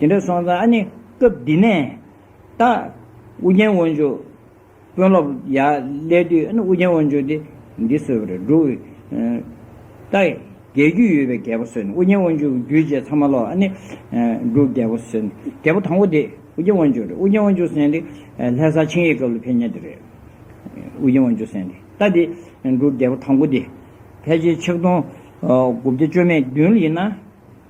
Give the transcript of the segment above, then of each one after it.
དེ་འདྲ་སོང་ཙང་ཨ་ནི་སྐབས་འདི་ནས་ད། ཨུ་རྒྱན་དབང་ཕྱུག་དཔོན་སློབ་ཡག་སླེབས་དུས་ཨ་ནི་ཨུ་རྒྱན་དབང་ཕྱུག་དེ་འདི་གསོས་པ་རེད་འགྲོ། ད་རྒྱལ་རྒྱུད་ཡོད་པའི་རྒྱལ་པོ་གསོས་ནས་ཨུ་རྒྱན་དབང་ཕྱུག་གི་རྒྱུད་བཅས་ཚང་མ་ལོག་ཨ་ནི་འབྲུག་རྒྱལ་པོ་གསོས་ནས་རྒྱལ་པོ་དང་པོ་དེ་ཨུ་རྒྱན་དབང་ཕྱུག་རེད་ཨུ་རྒྱན་དབང་ཕྱུག་གསན་དེ་ལྷས་བཟའ་ཆིངས་ཡིག་སྐབས་ལ་ཕེབས་ཉེ་དེ་རེད། ཨུ་རྒྱན་དབང་ཕྱུག་གསན་དེ་ད་དེ་འབྲུག་རྒྱལ་པོ་དང་པོ་དེ་ཕལ་ཆེར་ཆིག་སྟོང་དགུ་བརྒྱ་བཅོ་མེད་བདུན་ལ་ཡིན་ན།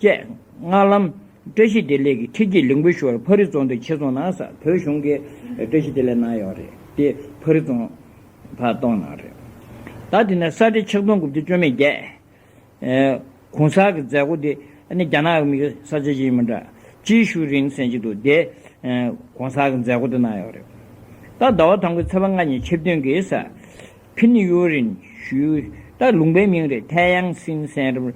བཅས། སྔགས་ལམ། བཀྲ་ཤིས་བདེ་ལེགས་ཀྱི་ཁྲིད་ཀྱིས་ལིང་བུ་ཞུ་བར་ཕ་རི་རྫོང་དུ་ཁྱེད་རྫོང་ནང་ས་བོད་གཞུང་གི་བཀྲ་ཤིས་བདེ་ལེགས་གནང་ཡོད་རེད་དེ་ཕ་རི་རྫོང་ཕག་གཏོང་ནང་རེད། ད་དེ་ནས་ས་བཀྲའི་ཆིག་སྟོང་དགུ་བརྒྱ་བཅོ་མེད་བརྒྱད། གུང་ས་གི་མཛད་སྒོ་དེ་ནི་རྒྱ་ནག་གི་མིག་ས་ཆ་ཅིག་ཡིན་མིན་འདྲ། ཅིའི་ཞུ་རིང་སེང་ཅིག་འདུག་དེ་གུང་ས་གི་མཛད་སྒོ་དེ་གནང་ཡོད་རེད། ད་ཟླ་བ་དང་པོའི་ཚེས་པ་ལྔ་ཉིན་ཆིབས་བསྟུན་གྱིས་ས་ཕིན་ཡུའུ་རིན་ཞུས་ད་ལུང་པའི་མིང་རེད་ཐའེ་ཡཱང་སིན་སན་རིམ།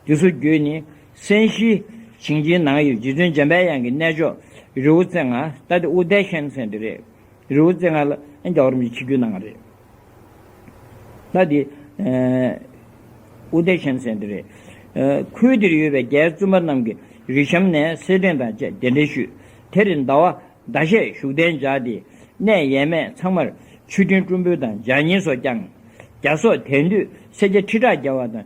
འདི་ཚོ་བརྒྱུད་ནས་སན་ཤི་ཞིང་ཆེན་ནང་ཡོད་རྗེ་བཙུན་འཇམ་པའི་དབྱངས་ཀྱི་གནས་མཆོག་རི་བོ་རྩེ་ལྔ་རྟ་དེ་ཨུ་དྷའི་ཤན་ཚན་དེ་རེད། རི་བོ་རྩེ་ལྔ་ལ་ཨན་རྒྱ་བོ་རིན་པོ་ཆེ་ཕྱི་རྒྱུད་གནང་བ་རེད། རྟ་དེ་ཨུ་དྷའི་ཤན་ཚན་དེ་རེད། ཁུལ་དེར་ཡོད་པའི་རྒྱའི་བཙུན་པ་རྣམས་ཀྱིས་རི་གཤམ་ནས་སེར་སྦྲེངས་དང་བཅས་གདན་འདྲེན་ཞུས། དེ་རིང་ཟླ་བ་ཟླ་ཤས་བཞུགས་གདན་འཇགས་ཏེ། གནས་ཡས་མས་ཚང་མར་ཆུ་སྤྲིན་སྤྲུལ་འབུལ་དང་ལྗགས་བསྙེན་སོགས་བསྐྱངས། རྒྱ་སོག་དེང་དུས་སེར་སྐྱ་ཁྲི་ཕྲག་བརྒལ་བ་དང།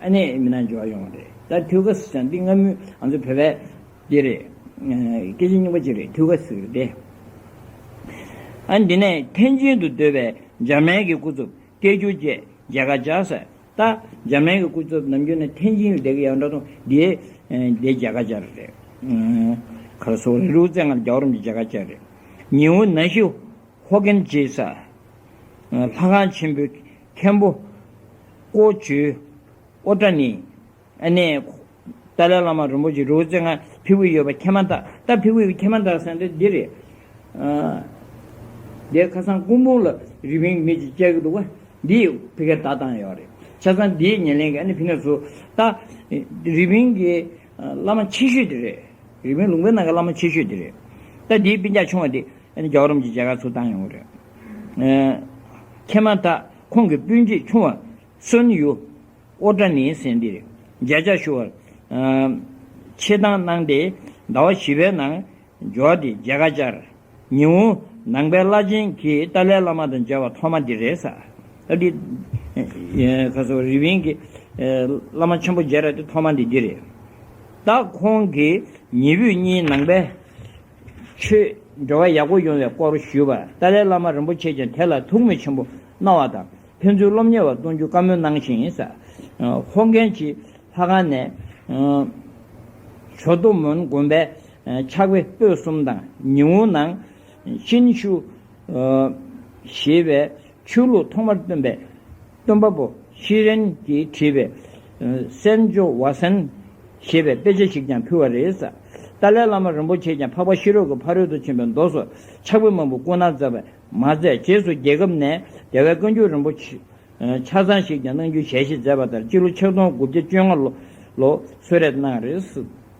ཨ་ནེ་མི་ནག་འབྱོར་བ་ཡོང་བ་རེད་ད་དུས་སྐབས་སུ་ཅང་འདི་སྔ་མོའི་ང་ཚོ་བོད་པའི་དེ་རེད། སྐད་ཆ་རྙིང་པ་ཅིག་རེད་དུས་སྐབས་སུ་དེ། ཨ་འདི་ནས་ཐེན་ཅིན་དུ་སྡོད་པའི་འཇར་མན་གྱི་སྐུ་ཚབ་སྐད་བསྒྱུར་བཅས་མཇལ་ཁ་བཅར་ས་ད་འཇར་མན་གྱི་སྐུ་ཚབ་ནམ་རྒྱུན་ནས་ཐེན་ཅིན་ལ་བསྡད་ཀྱི་ཡང་འདྲ་ཐོ་འདིའི་དེ་མཇལ་ཁ་བཅར་རེད། ཁ་ར་སོག་རི་རུ་བཙན་སྔར་རྒྱ་འོར་མཇལ་ཁ་བཅར་རེད། ཉིའུ་ན་ཤི་ཧོ་ཀན་ཅེས་ས། ལྷ་ཁང་ཆེན་པོའི་མཁན་པོ། ཀོ་ཇོའི། ཨོ་ཏྲ་ནི། ཨ་ནེ། ཏཱ་ལའི་བླ་མ་རིན་པོ་ཆེ་རུའུ་ཙེ་ངྷ་ཕི་བུ་ཡོད་པ་ཁྱེད་མ་བལྟ་ད་ཕི་བུ་ཁྱེད་མ་བལྟ་ཟེར་འདི་འདི་རེད། འདི་ཁ་སང་སྐུ་འབུམ་ལ་རི་བིང་མི་གཅིག་བཅར་གི་འདུག་བ་འདི་ཕི་ག་ད་བཏང་ཡོད་རེད་ཆ་ཚང་འདིའི་ཉེ་ལེན་གི་ཨ་ནེ་ཕི་ནས་སུ་ད་རི་བིང་གི། བླ་མ་ཆེ་ཤོས་དེ་རེད། རི་མོའི་ལུང་པའི་ནང་གི་བླ་མ་ཆེ་ཤོས་དེ་རེད། ད་དེའི་དཔེ་ཆ་ཆུང་བ་དེ་རྒྱ་གར་རོམ་གྱི་རྒྱལ་ཁག་ཚུར་བཏང་ཡོང་གི་རེད། མཁས་མང་དག་ཁོང་གི་སྤུན་མཆེད་ཆུང་བ་སོན་ཡུ་ཨོ་ཀྲ་ནིའི་སེང་འདི་རེད། མཇལ་བཅར་ཞུ་བར་ཆེད་བཏང་གནང་སྟེ་ཟླ་བ་བཞི་པའི་ནང་འབྱོར་ཏེ་མཇལ་ཁ་བཅར། ཉི་འོང། ནང་པའི་བླ་ཆེན་གྱིས་ཏཱ་ལའི་བླ་མ་དང་མཇལ་བ་ཐོག་མ་འདི་རེད། ཨ་ཏི། ཁ་སང་རི་བིན་གྱི། བླ་མ་ཆེན་པོ་མཇལ་ར་དེ་ཐོག་མ་འདི་འདི་རེད། ད་ཁོང་གིས་ཉི་བུས་གཉིས་ནང་པའི། ཆོས་འབྲེལ་བ་ཡག་པོ་ཡོང་བའི་སྐོར་ཞུས་པར་ཏཱ་ལའི་བླ་མ་རིན་པོ་ཆེས་ཀྱང་དེ་ལ་ཐུགས་མོས་ཆེན་པོ་གནང་བ་དང་ཕན་ཚུན་སློབ་གཉེར་བ་གཏོང་རྒྱུ་བཀའ་མོལ་གནང་ཞིང། ཧོ་ཀན་གྱི་ལྷ་ཁང་ནས། ཇོ་ཏོ་མོན་དགོན་པའི། ཆགས་པའི་སྤོས་གསུམ་དང་ཉི་འོད་ནང་བཞིན་ཞུ། ཞེས་པའི་ཆོས་ལུགས་ཐོག་མར་སྟོན་པའི་སྟོན་པ་པོ་ཤྲཱི་རན་གྱིས་བྲིས་པའི། སན་ཇོ་བྷ་སན། ཞེས་པའི་དཔེ་ཆ་ཞིག་ཀྱང་ཕུལ་བ་རེད། ཏཱ་ལའི་བླ་མ་རིན་པོ་ཆེས་ཀྱང་འཕགས་པ་ཤེས་རབ་ཀྱི་ཕ་རོལ་ཏུ་ཕྱིན་པའི་མདོ་སོགས་ཕྱག་དཔེ་མང་པོ་བསྐུར་ན་ཛབ་པས་མ་ཚད་རྗེས་སུ་རྒྱལ་ཁབ་ནས་རྒྱལ་བའི་བཀའ་འགྱུར་རིན་པོ་ཆ་ཚང་ཞིག་ཀྱང་གནང་རྒྱུའི་ཞལ་བཞེས་མཛད་པ་ལྟར་སྤྱི་ལོ་ཆིག་སྟོང་དགུ་བརྒྱ་བཅོ་ལྔ་ལོ་སོད་རེས་གནང་རེས།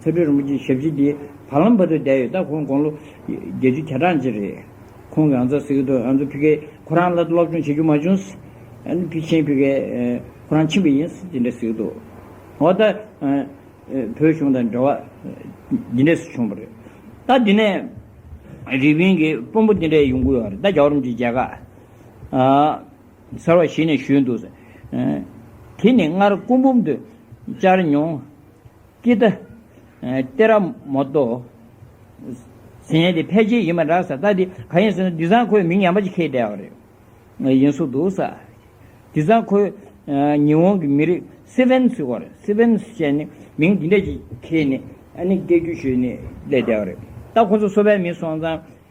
ཚེ་འཕེལ་རིན་པོ་ཆེའི་ཞབས་ཕྱི་དེ་བར་ལམ་བར་དུ་བསྡད་ཡོད་སྟབས་ཁོང་དགུང་ལོ་བརྒྱད་ཅུ་གྱ་གྲངས་ཅན་རེད། ཁོང་གིས་ཨ་མཚོ་སི་ཁི་ཐོའི་ཨ་མཚོ་ཕི་ཁེ་ཁོ་རང་ལ་སློབ་སྦྱོང་བྱེད་རྒྱུ་མ་བྱུང། ཕི་ཆིན་ཕི་ཁེ་ཁོ་རང་ཕྱིན་པ་ཡིན་ཅི་འདྲ་ཟེར་གྱི་འདུག་འོ་ད། བོད་གཞུང་དང་འབྲེལ་བ་ཇི་འདྲས་སུ་བྱུང་བ་རེད། ད་དེ་ནས་རི་པིན་གྱི་དཔོན་པོ་དེ་འདྲས་ཡོང་གི་ཡོད་རེད་ད་རྒྱ་གར་རིམ་གྱི་རྒྱལ་ཁག། ཚར་བ་ཞིག་ནས་བཞུད་འདུག། དེ་ནི་སྔར་སྐུ་འབུམ་དུ་བཅར་མྱོང། ཀི་ཏཱ། ཏེ་ར་མོ་ཏོ། ཟེར་ཡས་དེ་ཕལ་ཆེར་ཡིན་པ་འདྲ། ས་རྟགས་དེ་ག་ཡིན་ཟེར་ན་དེ་སང་ཁོས་མིང་ཡང་པ་ཅིག་ཁེལ་བསྡད་པ་རེད། ཡིན་བཟོ་འདུག་ས། དེ་སང་ཁོས་ཉི་འོང་གི་མི་རིགས་སི་ཝན་སི་ཝར། Sivens། ཅན་ནི་མིང་དེ་འདྲ་ཅིག་ཁེལ་ནས་ཨ་ནི་སྐད་སྒྱུར་ཞུས་ནས་བསྡད་བསྡད་པ་རེད། ད་ཁོ་ཚོ་སོ་པའི་མི་སོང་ཙང།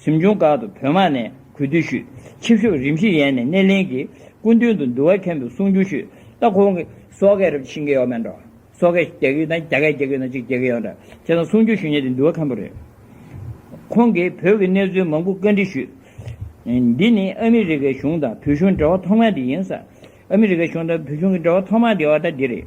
གཟིམ་ཆུང་སྒར་དུ་བོད་དམག་ནས་གུས་འདུད་ཞུས། ཆིབས་ཞུགས་རིམ་བཞིན་ཡན་ནས་སྣེ་ལེན་གྱིས་སྐུ་མདུན་དུ་འདུལ་བ་མཁན་པོའི་གསུང་ཆུང་ཞུས། ད་ཁོང་གིས། སོག་སྐད་རབ་ཆེན་གྱི་ཡོག་མན་འགྲོ། སོག་སྐད་རྒྱ་གུད་དང་རྒྱ་སྐད་རྒྱ་གུད་ནང་གཅིག་རྒྱལ་གྱི་ཡོག་འདྲ། ཅེས་དང་གསུང་ཆུང་ཞུས་ཉེན་དེ་འདུལ་བ་མཁན་པོ་རེད། ཁོང་གིས་བོད་ཀྱི་གནས་ཚུལ་མང་པོ་བཀའ་འདྲི་ཞུས། འདི་ནི་ཨ་མི་རི་ཀའི་གཞུང་དང་བོད་གཞུང་འབྲེལ་བ་ཐོག་མ་དེ་ཡིན། ཨ་མི་རི་ཀའི་གཞུང་དང་བོད་གཞུང་གི་འབྲེལ་བ་ཐོག་མ་དེ་ཡང་ད་འདི་རེད།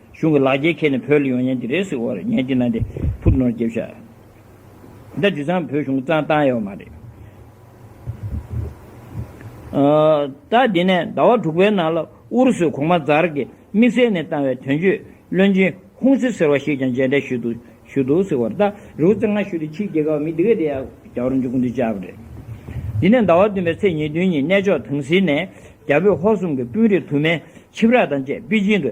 གཞུང་གི་ལག་འཁྱེར་ཁྱེར་ནས་བོད་ལ་ཡོང་ཉན་གྱི་རེད་ཟེར་བར་ཉན་གྱི་ན་དེ་ཕུག་ནོར་འགེབས་ཤག་འདི་དེ་སང་བོད་གཞུང་གི་རྩང་བཏང་ཡོད་མ་རེད། ད་དེ་ནས་ཟླ་བ་དྲུག་པའི་ནང་ལ་ཨུ་རུ་སུས་གོང་མ་ཛར་གྱི་དམིགས་བསལ་ནས་བཏང་བའི་དོན་གཅོད་བློན་ཆེན་ཧུང་སི་ཟེར་བ་ཞིག་ཀྱང་མཇལ་འཕྲད་ཞུས་འདུག་ཟེར་བར་ལྟ་རེ་བོ་ཙང་ང་ཞུས་ཏེ་ཕྱིའི་རྒྱལ་ཁབ་མི་དེ་ག་དེ་ཡག་རྒྱ་བོར་འཇུག་གི་འདུག་བྱས་པ་རེད། དེ་ནས་ཟླ་བ་བདུན་པའི་ཚེས་ཉེར་བདུན་ཉིན་གནས་མཆོག་དང་སིད་ནས་རྒྱ་བོད་ཧོར་གསུམ་གྱི་དཔོན་རིགས་དུ་མས་ཆིབས་ར་དང་བཅས་པེ་ཅིང་དུ།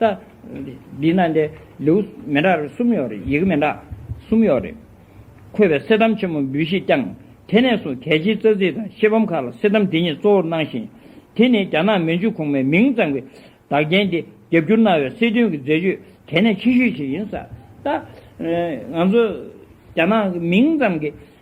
ལྟ། འདི་ན་འདི་ལེའུ་མི་འདྲ་རེ་གསུམ་ཡོད་རེད། ཡི་གེ་མི་འདྲ་གསུམ་ཡོད་རེད། འཁོད་པའི་སེར་ཐམ་ཆེན་མོ་འབུལ་བཞེས་བསྐྱངས། དེ་ནས་བཟུང་གལ་ཆེའི་རྩ་ཚིག་དང་ཤེལ་བམ་ཁག་ལ་སེར་ཐམ་འདི་ཉིད་གཙོ་བོར་གནང་ཞིང། དེ་ནི་རྒྱ་ནག་མན་ཇུ་གོང་མའི་མིང་གཙང་པའི་བདག་རྐྱེན་འདི་རྒྱབ་སྐྱུར་གནང་བའི་སྲིད་དོན་གྱི་མཛད་སྤྱོད་གལ་གནད་ཆེ་ཤོས་ཤིག་ཡིན། ལྟ། ང་ཚོ་རྒྱ་ནག་གི་མིང་གཙང་གི